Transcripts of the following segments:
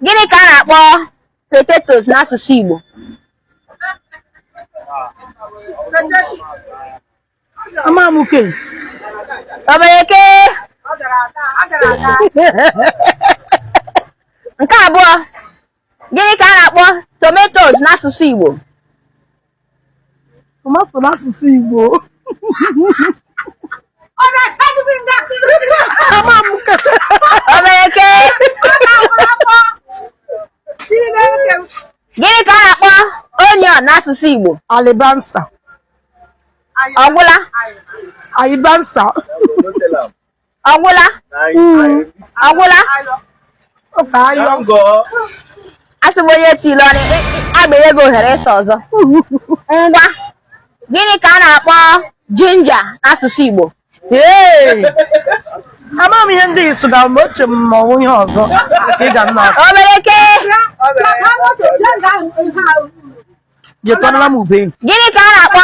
Gịnị ka a na-akpọ potatoes n'asụsụ Igbo? Amamuke. Obereke. Nke abụọ, gịnị ka a na-akpọ tomatoes n'asụsụ Igbo? tomato n'asụsụ Igbo ọ na-acha gị ndị akụrụ Amamuke. Obereke. Chineke m. Gịnị ka a na-akpọ onion n'asụsụ Igbo? alibansa Ọ gwụla? alibansa ọgwụla ọgwụla asị m onye tiri ọnụ agbanye gị ohere ịsa ọzọ ngwa gịnị ka a na-akpọ ginger n'asụsụ Igbo ama m ihe ndị Igbo gara mgbe oche m ma o nwee ihe ọzọ ka ị ga nna asị Obereke jetọrọla m ube gịnị ka a na-akpọ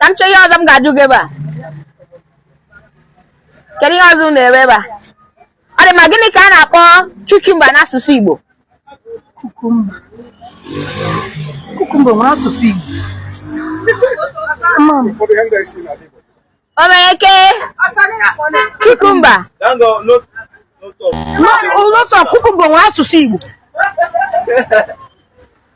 ka m chọọ ihe ọzọ m ga-ajụ gị ebe a kedu ihe ọzọ unu na-ere ebe a ọ dị mma gịnị ka a na-akpọ cucumber n'asụsụ Igbo cucumber cucumber nwere asụsụ Igbo Obereke cucumber ụlọtọ cucumber nwere asụsụ Igbo